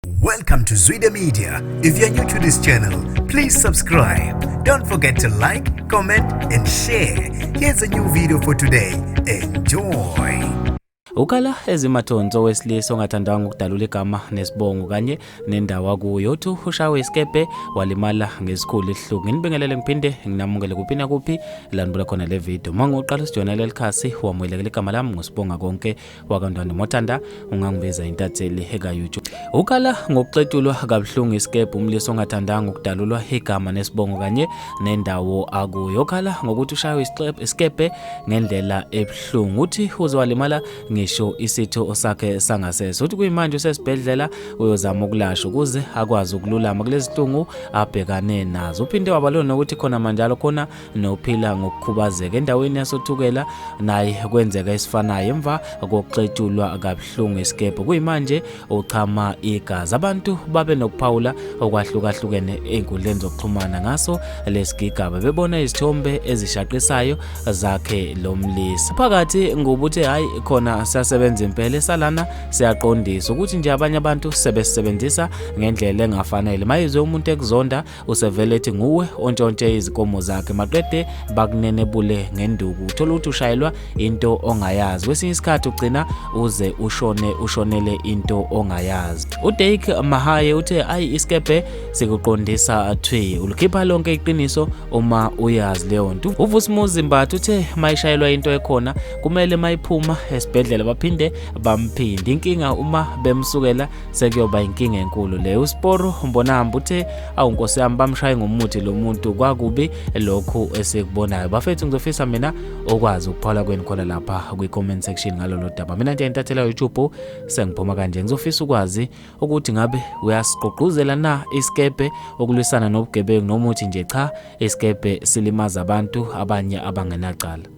Welcome to Zwide Media. If you're new to this channel, please subscribe. Don't forget to like, comment and share. Here's a new video for today. Enjoy. Ukala ezimathonso wesilisa ongathandanga ukudalula igama nesibongo kanye nendawo akuyo uthi ushawe isikepe walimala ngesikhulu isihluku nginibingelele ngiphinde nginamukele kuphi nakuphi landibula khona le video mangiqala usijona leli khasi wamuyelekela igama lami ngusibonga konke wakantwana motanda ungangiveza intatheli ekayuju ukala ngokuxetulwa kabuhlungu isikebhe umlisa ongathandanga ukudalulwa igama nesibongo kanye nendawo akuyo ukhala ngokuthi ushaywe isikebhe ngendlela ebuhlungu uthi uze walimala ngisho isitho sakhe sangasese uthi kuyimanje usesibhedlela uyozama ukulashwa ukuze akwazi ukululama kulezihlungu abhekane nazo uphinde wabalona ukuthi khona manjalo khona nophila ngokukhubazeka endaweni yasothukela naye kwenzeka esifanayo emva kokuxetshulwa kabuhlungu isikebhe kuyimanje uchama igazi abantu babe nokuphawula okwahlukahlukene ey'nkundleni zokuxhumana ngaso lesigigaba bebona izithombe ezishaqisayo zakhe lo mlisa phakathi ngubuthe hhayi khona siyasebenza impela esalana siyaqondisa ukuthi nje abanye abantu sebesisebenzisa ngendlela engafanele mayizwe umuntu ekuzonda usevele ethi nguwe ontshontshe izikomo zakhe maqede bakunenebule ngenduku uthola ukuthi ushayelwa into ongayazi kwesinye isikhathi ugcina uze ushone ushonele into ongayazi udake mahaye uthe ayi isikebhe sikuqondisa thwi ulikhipha lonke iqiniso uma uyazi leyo nto uvusimuzi mbatha uthe mayishayelwa into ekhona kumele mayiphuma esibhedlela baphinde bamphinde inkinga uma bemsukela sekuyoba inkinga enkulu le uSporo umbonahamba uthe awu nkosi yami bamshaye ngomuthi lo muntu kwakubi lokhu esikubonayo bafethu ngizofisa mina okwazi ukuphola kwenu khona lapha kwi-comment section ngalolo daba mina nje intathela youtube sengiphuma kanje ngizofisa ukwazi ukuthi ngabe uyasigqugquzela na isikebhe ukulwisana nobugebengu nomuthi nje cha isikebhe silimaza abantu abanye abangenacala